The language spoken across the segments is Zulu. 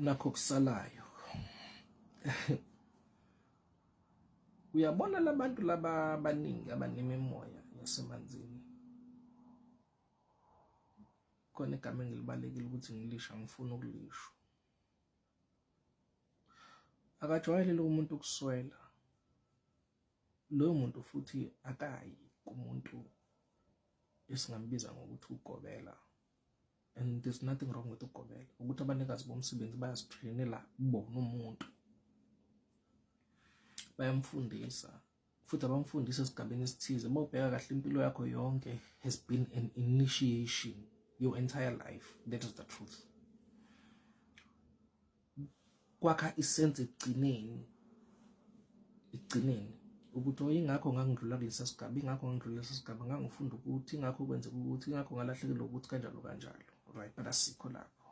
nakho kusalayo uyabona labantu laba abaningi abanemimoya yasemanzini khona igama engilibalekile ukuthi ngilisha ngifuna ukulisho akajwayelele umuntu ukuswela loyo muntu futhi akayi kumuntu esingambiza ngokuthi ugobela and there's nothing wrong with ukugomela ukuthi abanikazi bomsebenzi bayazitrainela bona umuntu bayamfundisa futhi abamfundisa esigabeni esithize uma ubheka kahle impilo yakho yonke has been an initiation your entire life that is the truth kwakha isense ekugcineni ekugcineni ukuthi oh ingakho ngangidlula kulesa sigaba ingakho ngangidlula kulesa sigaba ngangifunda ukuthi ingakho kwenzeka ukuthi ingakho ngalahlekelwa ukuthi kanjalo kanjalo right but asikho lapho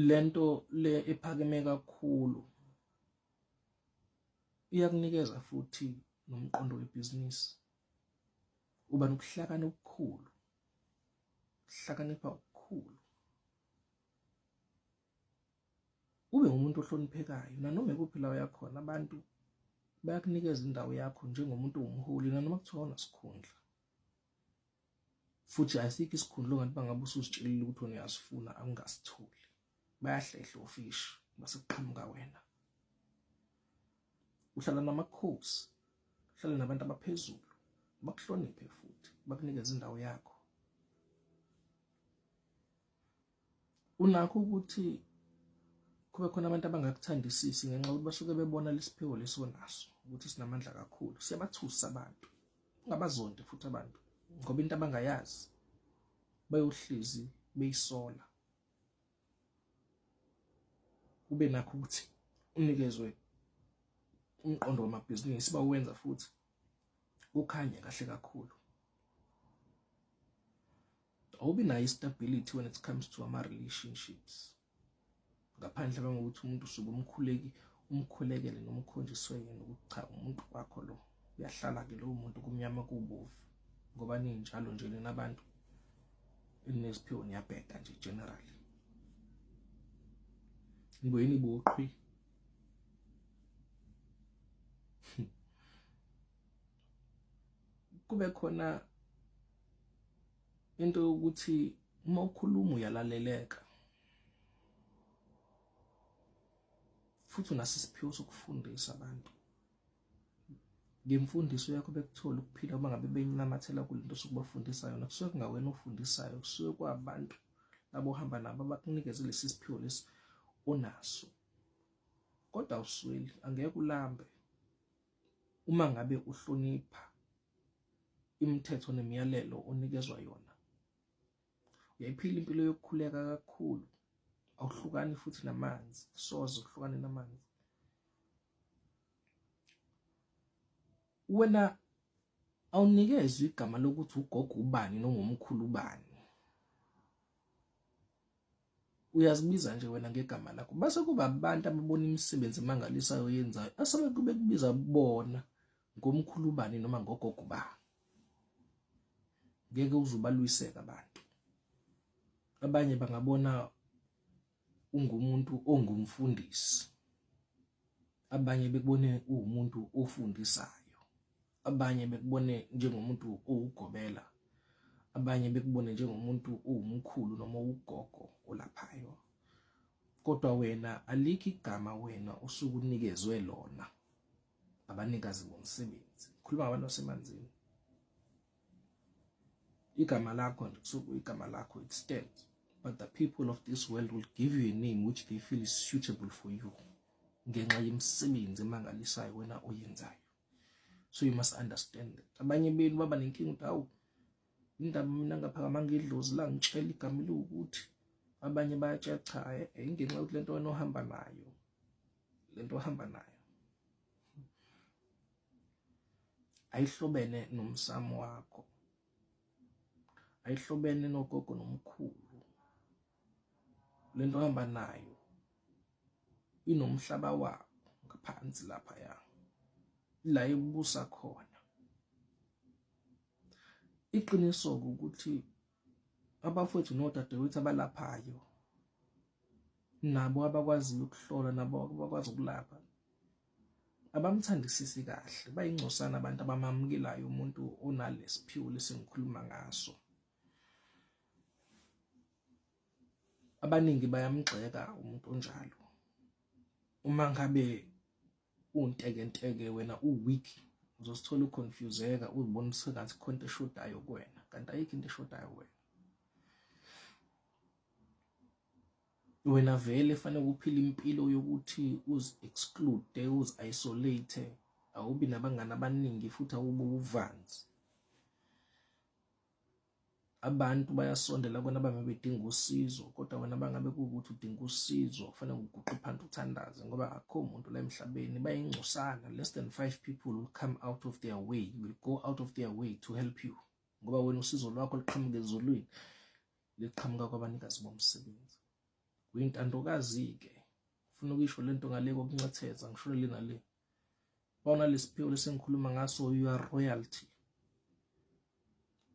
lento le ephakeme kakhulu iyakunikeza futhi nomqondo webhizinisi uba nokuhlakana okukhulu hlakanipha ukukhulu ube umuntu ohloniphekayo nanoma ikuphi la uyakhona abantu bayakunikeza indawo yakho njengomuntu owumholi nanoma kuthiwa unasikhundla futhi asikho isikhundla ongathi bangabe ususitshelile ukuthi uniyasifuna angasitholi bayahlehla ofish base kuqhamuka wena uhlala namakhosi uhlala nabantu abaphezulu bakuhloniphe futhi bakunikeze indawo yakho unakho ukuthi kube khona abantu abangakuthandisisi ngenxa yokuthi basuke bebona lesiphiwo lesonaso ukuthi sinamandla kakhulu siyabathusa abantu ungabazonde futhi abantu ngoba into abangayazi bayohlezi beyisola ube nakho ukuthi unikezwe umqondo wamabhizinisi bawenza futhi kukhanye kahle kakhulu awubi nayo stability when it comes to ama relationships ngaphandle kangokuthi umuntu usuke umkhuleki umkhulekele noma ukhonjiswe yena ukuthi cha umuntu wakho lo uyahlala ke lowo muntu kumnyama kubovu ngoba ninjalo nje nina abantu enesiphiwo niyabheda nje generally ngweni boqhwi kube khona into yokuthi uma ukhuluma uyalaleleka futhi unaso isiphiwo sokufundisa abantu ngemfundiso yakho bekuthola ukuphila uma ngabe benyamathela kule nto sokubafundisa yona kusuke kungawena ofundisayo kusuke kwabantu labo ohamba nabo abakunikeze lesi siphiwo lesi onaso kodwa usweli angeke ulambe uma ngabe uhlonipha imithetho nemiyalelo onikezwa yona uyayiphila impilo yokukhuleka kakhulu awuhlukani futhi namanzi soze uhlukane namanzi wena awunikezwe igama lokuthi ugogo ubani nongumkhulu ubani uyazibiza nje wena ngegama lakho base kuba abantu ababona imisebenzi emangalisayo oyenzayo asebe kube kubiza bona ngomkhulu bani noma ngogogo ba ngeke uzubalwiseka abantu abanye bangabona ungumuntu ongumfundisi abanye bekubone uwumuntu ofundisayo abanye bekubone njengomuntu owugobela abanye bekubone njengomuntu owumkhulu noma ugogo olaphayo kodwa wena alikho igama wena usukunikezwe lona abanikazi bomsebenzi ngikhuluma ngabantu basemanzini igama lakho nje kusuke igama lakho extend but the people of this world will give you a name which they feel is suitable for you ngenxa yemisebenzi emangalisayo wena oyenzayo so you must understand that abanye benu baba nenkinga ukuthi awu indaba mina ngaphakamanga idlozi la ngitshela igama eliwukuthi abanye bayatshela cha eh, eh, ingenxa yokuthi lento wena ohamba nayo lento ohamba nayo ayihlobene nomsamo wakho ayihlobene nogogo nomkhulu lento ohamba nayo inomhlaba wakho ngaphansi lapha ya la ebusa khona iqiniso ukuthi abafowethu nodadewethu abalaphayo nabo abakwaziyo ukuhlola nabo abakwazi ukulapha abamthandisisi kahle bayingcosana abantu abamamukelayo umuntu onalesiphiwo lesingikhuluma ngaso abaningi bayamgxeka umuntu onjalo uma ngabe untekenteke wena uweak uzosithola uconfuseka uzibona usengathi khona into eshodayo kuwena kanti ayikho into eshodayo kuwena wena vele fanele ukuphila impilo yokuthi uzi-exclude uzi-isolate awubi nabangani abaningi futhi awube uvanzi abantu bayasondela kona bangabe bedinga usizo kodwa wena bangabe kuwukuthi udinga usizo kufanele uguqe phansi uthandaze ngoba akho muntu la emhlabeni bayingcosana less than five people will come out of their way will go out of their way to help you ngoba wena usizo lwakho liqhamuka ezulwini liqhamuka kwabanikazi bomsebenzi uyintandokazi-ke ufuna ukuyisho le nto ngale kokunxethetha ngisholo lena le bona lesiphiwo lesengikhuluma ngaso you are royalty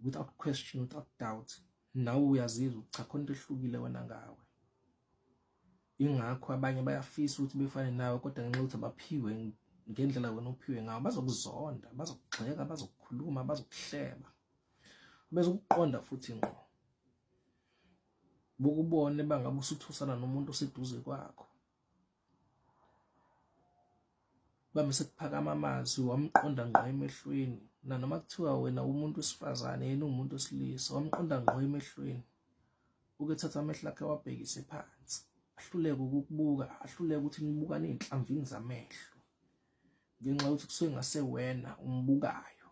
without question without doubt nawe uyazizwa ukuthi cha khona into ehlukile wena ngawe ingakho abanye bayafisa ukuthi befane nawe kodwa ngenxa yokuthi abaphiwe ngendlela wena ophiwe ngawo bazokuzonda bazokugxeka bazokukhuluma bazokuhleba bese ukuqonda futhi ngqo bukubone bangabe usuthusana nomuntu oseduze kwakho Bami sekuphakama amazwi wamqonda ngqo emehlweni nanoma kuthiwa wena umuntu wesifazane yena uwumuntu wesilisa wamqonda ngqo emehlweni ukethatha amehlo akhe wabhekise phansi ahluleke ukukubuka ahluleke ukuthi nibukane ey'nhlamvini zamehlo ngenxa yokuthi kusuke ngase wena umbukayo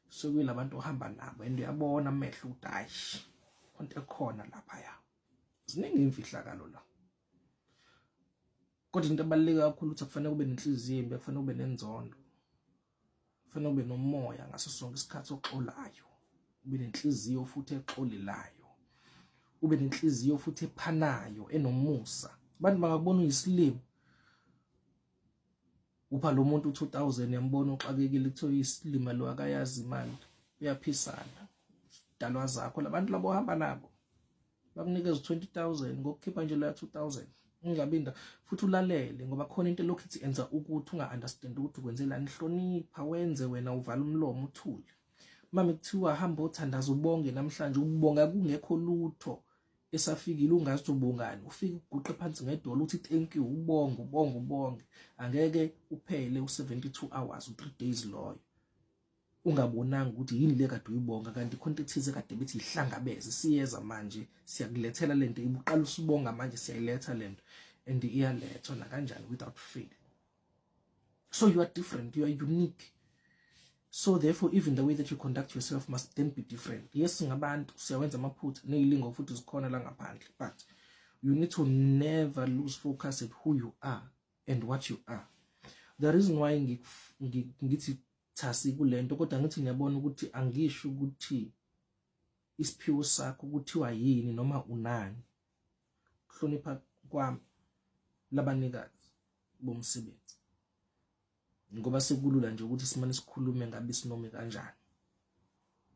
kusuke kuyilabantu ohamba nabo and uyabona amehlo ukuthi ayi khonto ekhona laphaya ziningi iy'mfihlakalo la kodwa into ebaluleke kakhulu ukuthi kufanele kube nenhliziyo imbi kufanele kube nenzondo kufanele kube nomoya ngaso sonke isikhathi oxolayo ube nenhliziyo futhi exolelayo ube nenhliziyo futhi ephanayo enomusa abantu bangakubona uyisilimo upha lo muntu 2000 yambona uxakekile kuthiwa uyisilima lo akayazi imali uyaphisana dalwa zakho labantu labo hamba nabo bakunikeza 20000 ngokukhipha nje loya 2000 ungabinda futhi ulalele ngoba khona into lokhu ithi enza ukuthi unga understand ukuthi ukwenzelani hlonipha wenze wena uvala umlomo uthule mama kuthiwa hamba othandaza ubonge namhlanje ukubonga kungekho lutho esafikile ungazi ukuthi ubongani ufike uguqe phansi ngedolo uthi thank you ubonge ubonge ubonge angeke uphele u72 hours u3 days loyo ungabonanga ukuthi yini le kade uyibonga kanti khona into ethize kade bethi ihlangabeze siyeza manje siyakulethela lento ibuqala usibonga manje siyayiletha lento and iyalethwa nakanjani without fail so you are different you are unique so therefore even the way that you conduct yourself must then be different yes ngabantu siyawenza amaphutha neyilingo futhi zikhona la ngaphandle but you need to never lose focus at who you are and what you are the reason why ngithi cha sikulento kodwa ngithi ngiyabona ukuthi angisho ukuthi isiphiwo sakho kuthiwa yini noma unani kuhlonipha kwami labanikazi bomsebenzi ngoba sekulula nje ukuthi simane sikhulume ngabe sinome kanjani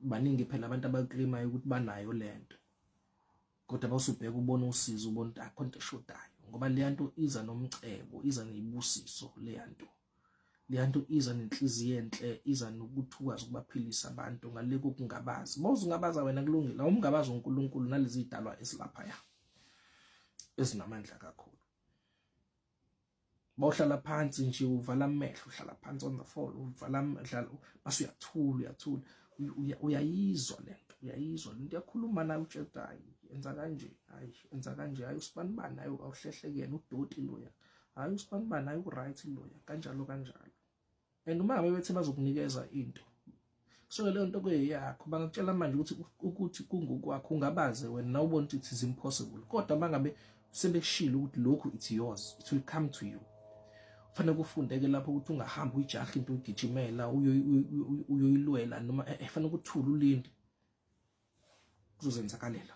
baningi phela abantu abaclaimayo ukuthi banayo lento kodwa bawusubheka ubona usizo ubona ukuthi akho nto eshodayo ngoba leya nto iza nomcebo iza neyibusiso leya nto leya nto iza nenhliziyo enhle iza nokuthi ukwazi ukubaphilisa abantu ngale kokungabazi bawuze ungabaza wena kulungile awumngabazi uNkulunkulu nalezi zidalwa esilapha ya ezinamandla kakhulu bawuhlala phansi nje uvala amehlo uhlala phansi on the floor uvala amehlo base uyathula uyathula uyayizwa lento uyayizwa lento yakhuluma nayo utshedayi enza kanje hayi enza kanje hayi usibanibani hayi awuhlehlekene udoti loya hayi usibanibani hayi uright loya kanjalo kanjalo and uma ngabe bethe bazokunikeza into kusuke leyo nto kuyeyakho bangakutshela manje ukuthi ukuthi kungokwakho ungabaze wena na ubona ukuthi it is impossible kodwa uma ngabe sebekushilo ukuthi lokhu it's yours it will come to you fanele kufundeke lapho ukuthi ungahamba uyijaha into ugijimela uyoyilwela noma eh, eh, fanele ukuthula ulinde kuzozenzakalela